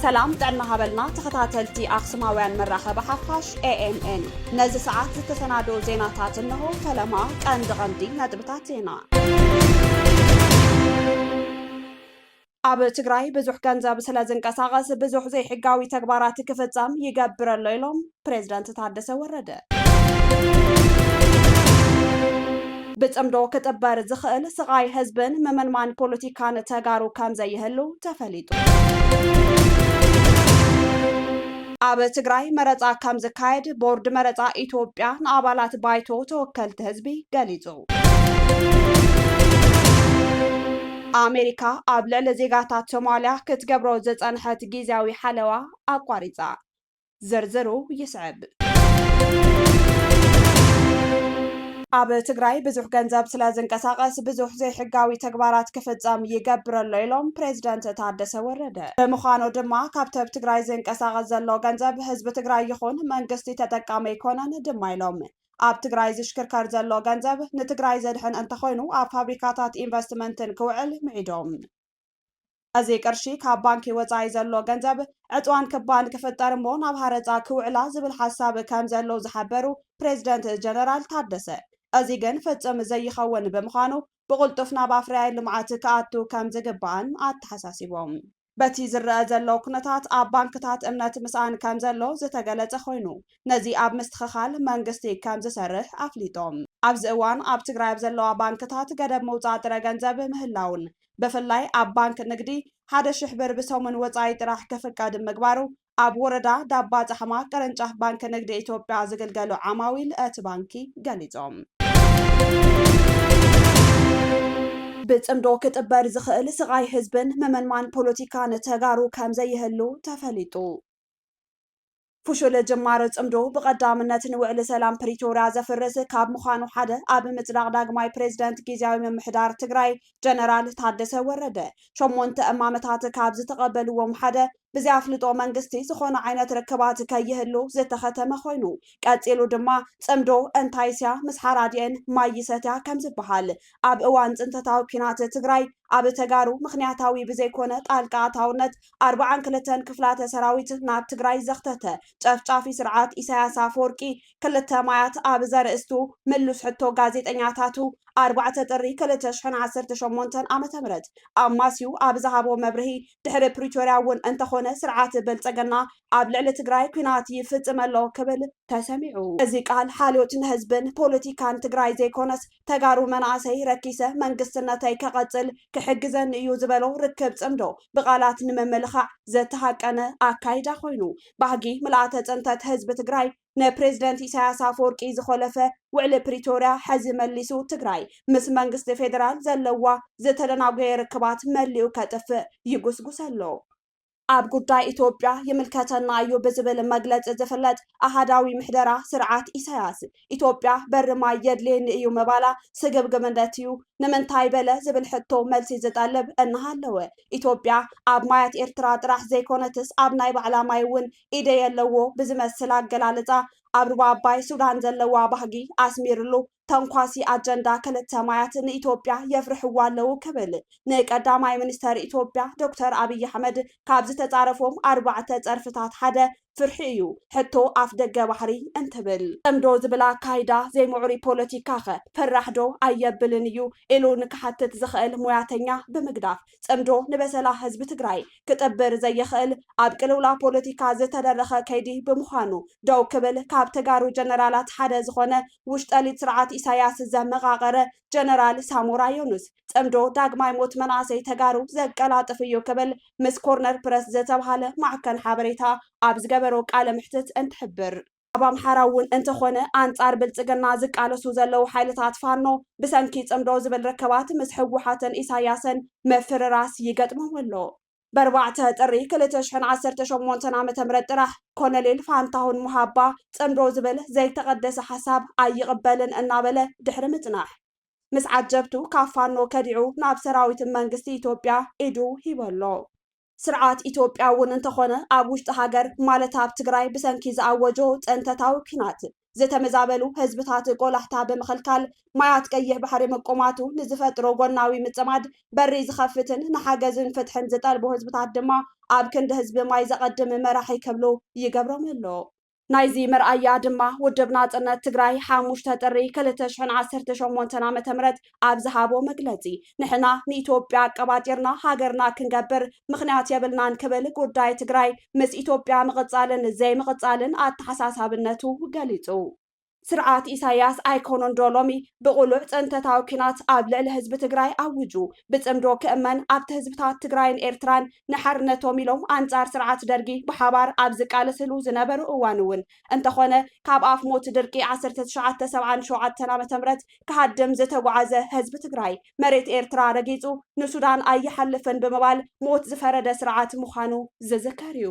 ሰላም ጥዕና ሃበልና ተኸታተልቲ ኣኽሱማውያን መራኸቢ ሓፋሽ ኤኤምኤን ነዚ ሰዓት ዝተሰናደኦ ዜናታት እንሆ ፈለማ ቀንዲ ቀንዲ ነጥብታት ዜና ኣብ ትግራይ ብዙሕ ገንዘብ ስለዝንቀሳቐስ ብዙሕ ዘይሕጋዊ ተግባራት ክፍፀም ይገብር ኣሎ ኢሎም ፕሬዝደንት ታደሰ ወረደ። ብፅምዶ ክጥበር ዝኽእል ስቓይ ህዝብን ምምንማን ፖለቲካን ተጋሩ ከምዘይህሉ ተፈሊጡ። ኣብ ትግራይ መረፃ ከምዝካየድ ቦርድ መረፃ ኢትዮጵያ ንኣባላት ባይቶ ተወከልቲ ህዝቢ ገሊፁ። ኣሜሪካ ኣብ ልዕሊ ዜጋታት ሶማልያ ክትገብሮ ዝጸንሐት ግዝያዊ ሓለዋ ኣቋሪጻ። ዝርዝሩ ይስዕብ። ኣብ ትግራይ ብዙሕ ገንዘብ ስለ ዝንቀሳቐስ ብዙሕ ዘይሕጋዊ ተግባራት ክፍጸም ይገብር ኣሎ ኢሎም ፕሬዚደንት ታደሰ ወረደ። ብምዃኑ ድማ ካብቲ ኣብ ትግራይ ዝንቀሳቐስ ዘሎ ገንዘብ ህዝቢ ትግራይ ይኹን መንግስቲ ተጠቃሚ ኣይኮነን ድማ ኢሎም። ኣብ ትግራይ ዝሽክርከር ዘሎ ገንዘብ ንትግራይ ዘድሕን እንተኾይኑ ኣብ ፋብሪካታት ኢንቨስትመንትን ክውዕል ምዒዶም። እዚ ቅርሺ ካብ ባንኪ ወፃኢ ዘሎ ገንዘብ ዕፅዋን ክባን ክፍጠር እሞ ናብ ሃረፃ ክውዕላ ዝብል ሓሳብ ከምዘሎ ዝሓበሩ ፕሬዝደንት ጀነራል ታደሰ እዚ ግን ፍፅም ዘይኸውን ብምዃኑ ብቕልጡፍ ናብ ኣፍረያይ ልምዓት ክኣቱ ከምዝግባእን ኣተሓሳሲቦም። በቲ ዝረኣ ዘሎ ኩነታት ኣብ ባንክታት እምነት ምስኣን ከምዘሎ ዝተገለፀ ኮይኑ ነዚ ኣብ ምስትኽኻል መንግስቲ ከምዝሰርሕ ኣፍሊጦም። ኣብዚ እዋን ኣብ ትግራይ ኣብ ዘለዋ ባንክታት ገደብ ምውፃእ ጥረ ገንዘብ ምህላዉን ብፍላይ ኣብ ባንክ ንግዲ ሓደ ሽሕ ብር ብሰሙን ወፃኢ ጥራሕ ክፍቀድ ምግባሩ ኣብ ወረዳ ዳባ ፃሕማ ቅርንጫፍ ባንኪ ንግዲ ኢትዮጵያ ዝግልገሉ ዓማዊል እቲ ባንኪ ገሊፆም። ብፅምዶ ክጥበር ዝኽእል ስቓይ ህዝብን ምምንማን ፖለቲካን ተጋሩ ከምዘይህሉ ተፈሊጡ። ፍሹል ጅማሮ ፅምዶ ብቐዳምነት ንውዕሊ ሰላም ፕሪቶርያ ዘፍርስ ካብ ምዃኑ ሓደ ኣብ ምፅዳቕ ዳግማይ ፕሬዝደንት ጊዜያዊ ምምሕዳር ትግራይ ጀነራል ታደሰ ወረደ ሸሞንተ እማመታት ካብ ዝተቐበልዎም ሓደ ብዘይኣፍልጦ መንግስቲ ዝኾነ ዓይነት ርክባት ከይህሉ ዝተኸተመ ኮይኑ፣ ቀጺሉ ድማ ጽምዶ እንታይስ'ያ ምስ ሓራዲኤን ማይ ይሰትያ ከም ዝበሃል፣ ኣብ እዋን ጽንተታዊ ኲናት ትግራይ ኣብ ተጋሩ ምኽንያታዊ ብዘይኮነ ጣልቃ ኣታውነት ኣርብዓን ክልተን ክፍላተ ሰራዊት ናብ ትግራይ ዘኽተተ ጨፍጫፊ ስርዓት ኢሳያስ ኣፈወርቂ ክልተ ማያት ኣብ ዘርእስቱ ምሉስ ሕቶ ጋዜጠኛታቱ ኣርባዕተ ጥሪ ክልተ ሽሕን ዓሰርተ ሸሞንተን ዓመተ ምህረት ኣማስዩ ኣብ ዝሃቦ መብርሂ ድሕሪ ፕሪቶርያ እውን እንተኾነ ስርዓት ብልፅግና ኣብ ልዕሊ ትግራይ ኲናት ይፍፅም ኣሎ ክብል ተሰሚዑ። እዚ ቃል ሓልዮት ንህዝብን ፖለቲካን ትግራይ ዘይኮነስ ተጋሩ መናእሰይ ረኪሰ መንግስትነተይ ከቐፅል ክሕግዘኒ እዩ ዝበሎ ርክብ ፅምዶ ብቓላት ንምምልኻዕ ዝተሃቀነ ኣካይዳ ኮይኑ ባህጊ ምልኣተ ፅንተት ህዝቢ ትግራይ ንፕሬዝደንት ኢሳያስ ኣፈወርቂ ዝኾለፈ ውዕሊ ፕሪቶርያ ሐዚ መሊሱ ትግራይ ምስ መንግስቲ ፌደራል ዘለዋ ዝተደናጎየ ርክባት መሊኡ ከጥፍእ ይጉስጉስ ኣሎ። ኣብ ጉዳይ ኢትዮጵያ ይምልከተና እዩ ብዝብል መግለፂ ዝፍለጥ ኣሃዳዊ ምሕደራ ስርዓት ኢሳያስ ኢትዮጵያ በሪ ማይ የድልየኒ እዩ ምባላ ስግብግብነት እዩ። ንምንታይ በለ ዝብል ሕቶ መልሲ ዝጠልብ እናሃለወ ኢትዮጵያ ኣብ ማያት ኤርትራ ጥራሕ ዘይኮነትስ ኣብ ናይ ባዕላ ማይ እውን ኢደ የለዎ ብዝመስል ኣገላልፃ ኣብ ሩባ ኣባይ ሱዳን ዘለዋ ባህጊ ኣስሚርሉ ተንኳሲ ኣጀንዳ ክልተ ማያት ንኢትዮጵያ የፍርሕዋ ኣለዉ ክብል ንቀዳማይ ሚኒስተር ኢትዮጵያ ዶክተር ኣብይ ኣሕመድ ካብ ዝተፃረፎም ኣርባዕተ ፀርፍታት ሓደ ፍርሒ እዩ ሕቶ ኣፍ ደገ ባሕሪ እንትብል ፅምዶ ዝብል ኣካይዳ ዘይምዑሩይ ፖለቲካኸ ፈራሕ ዶ ኣየብልን እዩ ኢሉ ንክሓትት ዝኽእል ሙያተኛ ብምግዳፍ ጽምዶ ንበሰላ ህዝቢ ትግራይ ክጥብር ዘይኽእል ኣብ ቅልውላው ፖለቲካ ዝተደረኸ ከይዲ ብምዃኑ ደው ክብል ካብ ተጋሩ ጀነራላት ሓደ ዝኾነ ውሽጠሊት ስርዓት ኢሳያስ ዘመቓቐረ ጀነራል ሳሞራ ዮኑስ ጽምዶ ዳግማይ ሞት መናእሰይ ተጋሩ ዘቀላጥፍ እዩ ክብል ምስ ኮርነር ፕረስ ዝተብሃለ ማዕከን ሓበሬታ ኣብ ዝገበሮ ቃለ መሕትት እንትሕብር ኣብ ኣምሓራ እውን እንተኾነ ኣንፃር ብልፅግና ዝቃለሱ ዘለዉ ሓይልታት ፋኖ ብሰንኪ ፅምዶ ዝብል ርከባት ምስ ህወሓትን ኢሳያስን ምፍርራስ ይገጥሞም ኣሎ። ብ ኣርባዕተ ጥሪ ክልተ ሽሕን ዓሰርተ ሸሞንተን ዓመተ ምህረት ጥራሕ ኮሎኔል ፋንታሁን ሙሃባ ፅምዶ ዝብል ዘይተቐደሰ ሓሳብ ኣይቕበልን እናበለ ድሕሪ ምፅናሕ ምስ ዓጀብቱ ካብ ፋኖ ከዲዑ ናብ ሰራዊት መንግስቲ ኢትዮጵያ ኢዱ ሂቡ ኣሎ። ስርዓት ኢትዮጵያ እውን እንተኾነ ኣብ ውሽጢ ሃገር ማለት ኣብ ትግራይ ብሰንኪ ዝኣወጆ ፅንተታዊ ኲናት ዝተመዛበሉ ህዝብታት ቆላሕታ ብምኽልካል ማያት ቀይሕ ባሕሪ ምቁማቱ ንዝፈጥሮ ጎናዊ ምፅማድ በሪ ዝኸፍትን ንሓገዝን ፍትሕን ዝጠልቡ ህዝብታት ድማ ኣብ ክንዲ ህዝቢ ማይ ዘቐድም መራሒ ክብሉ ይገብሮም ኣሎ። ናይዚ መርኣያ ድማ ውድብ ናጽነት ትግራይ ሓሙሽተ ጥሪ ክልተ ሽሕን ዓሰርተ ሸሞንተን ዓመተ ምህረት ኣብ ዝሃቦ መግለጺ ንሕና ንኢትዮጵያ ኣቀባጢርና ሃገርና ክንገብር ምኽንያት የብልናን ክብል ጉዳይ ትግራይ ምስ ኢትዮጵያ ምቕጻልን ዘይምቕጻልን ኣተሓሳሳብነቱ ገሊጹ። ስርዓት ኢሳያስ ኣይኮነንዶ ሎሚ ብቕሉዕ ፅንተታዊ ኲናት ኣብ ልዕሊ ህዝቢ ትግራይ ኣውጁ ብፅምዶ ክእመን ኣብቲ ህዝብታት ትግራይን ኤርትራን ንሓርነቶም ኢሎም ኣንፃር ስርዓት ደርጊ ብሓባር ኣብ ዝቃለስሉ ዝነበሩ እዋን እውን እንተኾነ ካብ ኣፍ ሞት ድርቂ ዓሰርተ ትሽዓተ ሰብዓን ሸውዓተን ዓ.ም ክሃድም ዝተጉዓዘ ህዝቢ ትግራይ መሬት ኤርትራ ረጊጹ ንሱዳን ኣይሓልፍን ብምባል ሞት ዝፈረደ ስርዓት ምዃኑ ዝዝከር እዩ።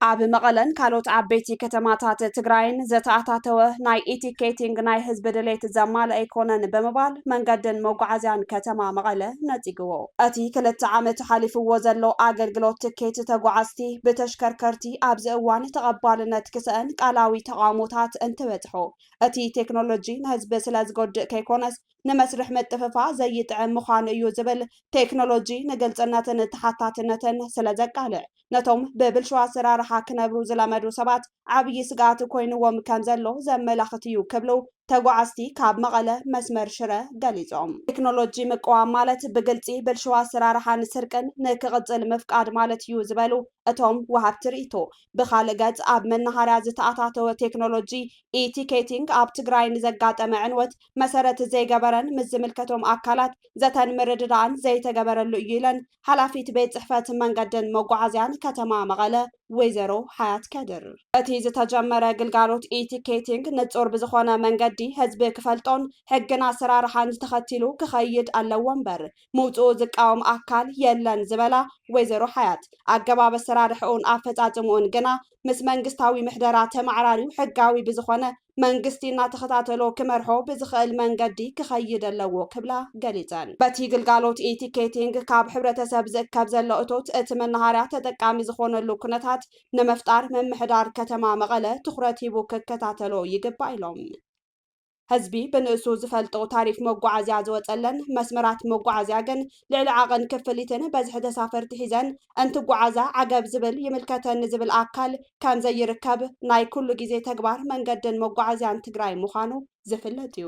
ኣብ መቐለን ካልኦት ዓበይቲ ከተማታት ትግራይን ዘተኣታተወ ናይ ኢቲኬቲንግ ናይ ህዝቢ ድሌት ዘማልእ ኣይኮነን ብምባል መንገድን መጓዓዝያን ከተማ መቐለ ነጺግዎ። እቲ ክልተ ዓመት ሓሊፍዎ ዘሎ ኣገልግሎት ትኬት ተጓዓዝቲ ብተሽከርከርቲ ኣብዚ እዋን ተቐባልነት ክሰእን ቃላዊ ተቓውሞታት እንትበጽሖ እቲ ቴክኖሎጂ ንህዝቢ ስለዝጎድእ ከይኮነስ ንመስርሕ ምጥፍፋእ ዘይጥዕም ምዃኑ እዩ ዝብል ቴክኖሎጂ ንግልፅነትን ተሓታትነትን ስለዘቃልዕ ነቶም ብብልሹ ኣሰራርሓ ክነብሩ ዝለመዱ ሰባት ዓብዪ ስግኣት ኮይኑዎም ከምዘሎ ዘመላኽት እዩ ክብሉ ተጓዓዝቲ ካብ መቐለ መስመር ሽረ ገሊፆም። ቴክኖሎጂ ምቅዋም ማለት ብግልፂ ብልሹ ኣሰራርሓን ስርቅን ንክቕፅል ምፍቃድ ማለት እዩ ዝበሉ እቶም ወሃብቲ ርኢቶ፣ ብኻልእ ገፅ ኣብ መናሃርያ ዝተኣታተወ ቴክኖሎጂ ኢ-ቲኬቲንግ ኣብ ትግራይ ንዘጋጠመ ዕንወት መሰረት ዘይገበረን ምስ ዝምልከቶም ኣካላት ዘተን ምርድዳእን ዘይተገበረሉ እዩ ኢለን ሓላፊት ቤት ፅሕፈት መንገድን መጓዓዝያን ከተማ መቐለ ወይዘሮ ሓያት ከድር። እቲ ዝተጀመረ ግልጋሎት ኢ-ቲኬቲንግ ንፁር ብዝኾነ መንገዲ ህዝቢ ክፈልጦን ሕግን ኣሰራርሓን ተኸቲሉ ክኸይድ ኣለዎ እምበር ምውፅኡ ዝቃወም ኣካል የለን ዝበላ ወይዘሮ ሓያት፣ ኣገባብ ኣሰራርሕኡን ኣፈፃፅምኡን ግና ምስ መንግስታዊ ምሕደራ ተማዕራርዩ ሕጋዊ ብዝኾነ መንግስቲ እናተኸታተሎ ክመርሖ ብዝኽእል መንገዲ ክኸይድ ኣለዎ ክብላ ገሊፀን። በቲ ግልጋሎት ኢ-ቲኬቲንግ ካብ ሕብረተሰብ ዝእከብ ዘሎ እቶት እቲ መናሃርያ ተጠቃሚ ዝኾነሉ ኩነታት ንምፍጣር ምምሕዳር ከተማ መቐለ ትኹረት ሂቡ ክከታተሎ ይግባእ ኢሎም። ህዝቢ ብንእሱ ዝፈልጦ ታሪፍ መጓዓዝያ ዝወፀለን መስመራት መጓዓዝያ ግን ልዕሊ ዓቐን ክፍሊትን በዝሒ ተሳፈርቲ ሒዘን እንትጓዓዛ ዓገብ ዝብል ይምልከተኒ ዝብል ኣካል ከምዘይርከብ ናይ ኩሉ ግዜ ተግባር መንገድን መጓዓዝያን ትግራይ ምዃኑ ዝፍለጥ እዩ።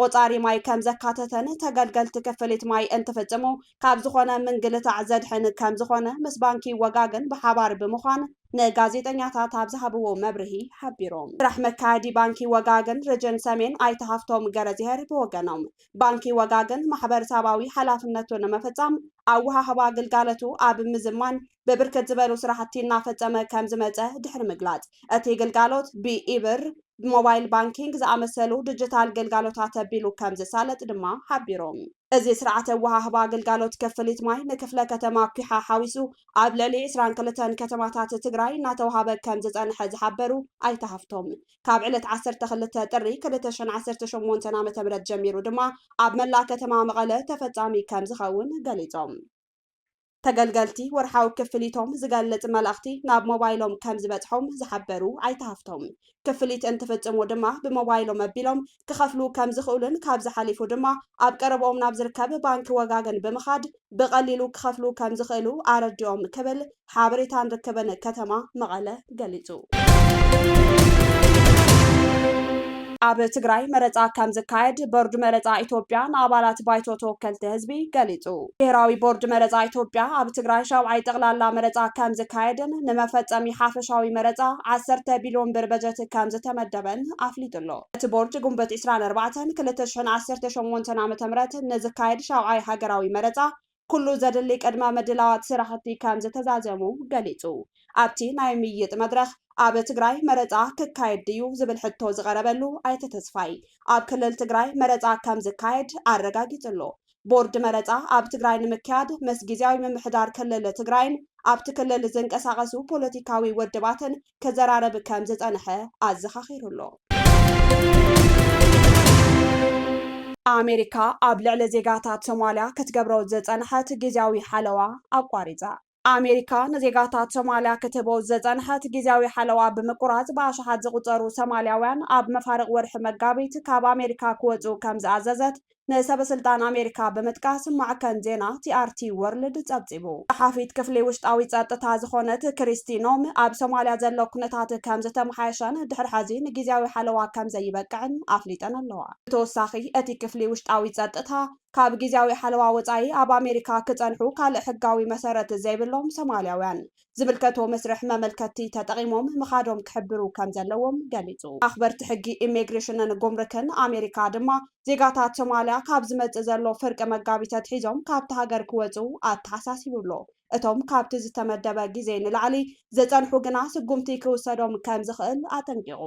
ቆፃሪ ማይ ከም ዘካተተን ተገልገልቲ ክፍሊት ማይ እንትፍፅሙ ካብ ዝኾነ ምንግልታዕ ዘድሕን ከም ዝኾነ ምስ ባንኪ ወጋገን ብሓባር ብምዃን ንጋዜጠኛታት ኣብ ዝሃብዎ መብርሂ ሓቢሮም። ስራሕ መካየዲ ባንኪ ወጋገን ርጅን ሰሜን ኣይተ ሃፍቶም ገረዝሄር ብወገኖም ባንኪ ወጋገን ማሕበርሳባዊ ሓላፍነቱ ንምፍፃም ኣወሃህባ ግልጋለቱ ኣብ ምዝማን ብብርክት ዝበሉ ስራሕቲ እናፈፀመ ከም ዝመፀ ድሕሪ ምግላፅ እቲ ግልጋሎት ብኢ-ብር ብሞባይል ባንኪንግ ዝኣመሰሉ ድጅታል ግልጋሎታት ኣቢሉ ከም ዝሳለጥ ድማ ሓቢሮም። እዚ ስርዓተ ኣወሃህባ ግልጋሎት ክፍሊት ማይ ንክፍለ ከተማ ኲሓ ሓዊሱ ኣብ ልዕሊ ዕስራን ክልተን ከተማታት ትግራይ እናተውሃበ ከም ዝፀንሐ ዝሓበሩ ኣይተ ሃፍቶም፣ ካብ ዕለት ዓሰርተ ክልተ ጥሪ ክልተ ሽሕን ዓሰርተ ሸሞንተን ዓ ም ጀሚሩ ድማ ኣብ መላእ ከተማ መቐለ ተፈፃሚ ከም ዝኸውን ገሊፆም። ተገልገልቲ ወርሓዊ ክፍሊቶም ዝገልጽ መልእኽቲ ናብ ሞባይሎም ከም ዝበጽሖም ዝሓበሩ ኣይተ ሃፍቶም፣ ክፍሊት እንትፍጽሙ ድማ ብሞባይሎም ኣቢሎም ክኸፍሉ ከም ዝኽእሉን ካብዚ ሓሊፉ ድማ ኣብ ቀረብኦም ናብ ዝርከብ ባንኪ ወጋገን ብምኻድ ብቐሊሉ ክኸፍሉ ከም ዝኽእሉ ኣረዲኦም ክብል ሓበሬታን ርክብን ከተማ መቐለ ገሊፁ። ኣብ ትግራይ መረፃ ከምዝካየድ ቦርድ መረፃ ኢትዮጵያ ንኣባላት ባይቶ ተወከልቲ ህዝቢ ገሊፁ። ብሄራዊ ቦርድ መረፃ ኢትዮጵያ ኣብ ትግራይ ሻብዓይ ጠቕላላ መረፃ ከምዝካየድን ንመፈፀሚ ሓፈሻዊ መረፃ ዓሰርተ ቢልዮን ብር በጀት ከምዝተመደበን ኣፍሊጡ ኣሎ። እቲ ቦርድ ግንቦት ዕስራን ኣርባዕተን ክልተ ሽሕን ዓሰርተ ሸሞንተን ዓ.ም ንዝካየድ ሻብዓይ ሃገራዊ መረፃ ኩሉ ዘድሊ ቅድመ ምድላዋት ስራሕቲ ከምዝተዛዘሙ ገሊፁ። ኣብቲ ናይ ምይይጥ መድረኽ ኣብ ትግራይ መረፃ ክካየድ ድዩ ዝብል ሕቶ ዝቐረበሉ ኣይተ ተስፋይ፣ ኣብ ክልል ትግራይ መረፃ ከምዝካየድ ኣረጋጊፁ ኣሎ። ቦርድ መረፃ ኣብ ትግራይ ንምክያድ ምስ ጊዚያዊ ምምሕዳር ክልል ትግራይን ኣብቲ ክልል ዝንቀሳቐሱ ፖለቲካዊ ውድባትን ክዘራረብ ከም ዝጸንሐ ኣዘኻኺሩ'ሎ። ኣሜሪካ ኣብ ልዕሊ ዜጋታት ሶማልያ ክትገብሮ ዝጸንሐት ግዝያዊ ሓለዋ ኣቋሪጻ። ኣሜሪካ ንዜጋታት ሶማልያ ክትህቦ ዝጸንሐት ግዝያዊ ሓለዋ ብምቁራጽ ብኣሽሓት ዝቑጸሩ ሰማልያውያን ኣብ መፋርቕ ወርሒ መጋቢት ካብ ኣሜሪካ ክወጽኡ ከም ዝኣዘዘት ንሰበስልጣን ኣሜሪካ ብምጥቃስ ማዕከን ዜና ቲኣርቲ ዎርልድ ጸብጺቡ። ጸሓፊት ክፍሊ ውሽጣዊ ጸጥታ ዝኾነት ክሪስቲ ኖም፣ ኣብ ሶማልያ ዘሎ ኩነታት ከምዝተመሓየሸን ድሕሪ ሐዚ ንጊዝያዊ ሓለዋ ከምዘይበቅዕን ኣፍሊጠን ኣለዋ። ብተወሳኺ እቲ ክፍሊ ውሽጣዊ ጸጥታ፣ ካብ ጊዝያዊ ሓለዋ ወጻኢ ኣብ ኣሜሪካ ክጸንሑ ካልእ ሕጋዊ መሰረት ዘይብሎም ሶማልያውያን ዝምልከቶ መስርሕ መመልከቲ ተጠቒሞም ምኻዶም ክሕብሩ ከምዘለዎም ገሊጹ። ኣኽበርቲ ሕጊ ኢሚግሬሽንን ጉምርክን ኣሜሪካ ድማ ዜጋታት ሶማልያ ካብ ዝመጽእ ዘሎ ፍርቂ መጋቢት ኣትሒዞም ካብታ ሃገር ክወጹ ኣተሓሳሲቡ ኣሎ። እቶም ካብቲ ዝተመደበ ግዜ ንላዕሊ ዝጸንሑ ግና ስጉምቲ ክውሰዶም ከምዝኽእል ኣጠንቂቑ።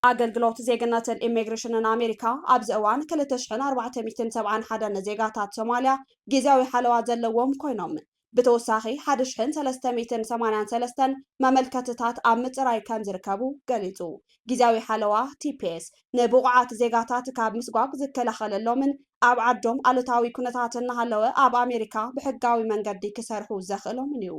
ኣገልግሎት ዜግነትን ኢሚግሬሽንን ኣሜሪካ ኣብዚ እዋን ክልተ ሽሕን ኣርባዕተ ሚእትን ሰብዓን ሓደን ዜጋታት ሶማልያ ጊዚያዊ ሓለዋ ዘለዎም ኮይኖም ብተወሳኺ ሓደ ሽሕን ሰለስተ ሚእትን ሰማንያን ሰለስተን መመልከትታት ኣብ ምጽራይ ከምዝርከቡ ገሊጹ። ጊዚያዊ ሓለዋ፣ ቲፒኤስ፣ ንብቑዓት ዜጋታት ካብ ምስጓግ ዝከላኸለሎምን ኣብ ዓዶም ኣሉታዊ ኩነታት እናሃለወ ኣብ ኣሜሪካ ብሕጋዊ መንገዲ ክሰርሑ ዘኽእሎምን እዩ።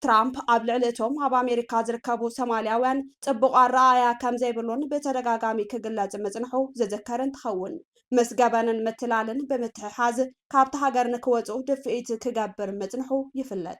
ትራምፕ ኣብ ልዕሊ እቶም ኣብ ኣሜሪካ ዝርከቡ ሰማልያውያን ጽቡቕ ኣረኣእያ ከም ዘይብሉን ብተደጋጋሚ ክግለጽ ምጽንሑ ዝዝከር እንትኸውን ምስ ገበንን ምትላልን ብምትሕሓዝ ካብቲ ሃገር ንክወጹ ድፍኢት ክገብር ምጽንሑ ይፍለጥ።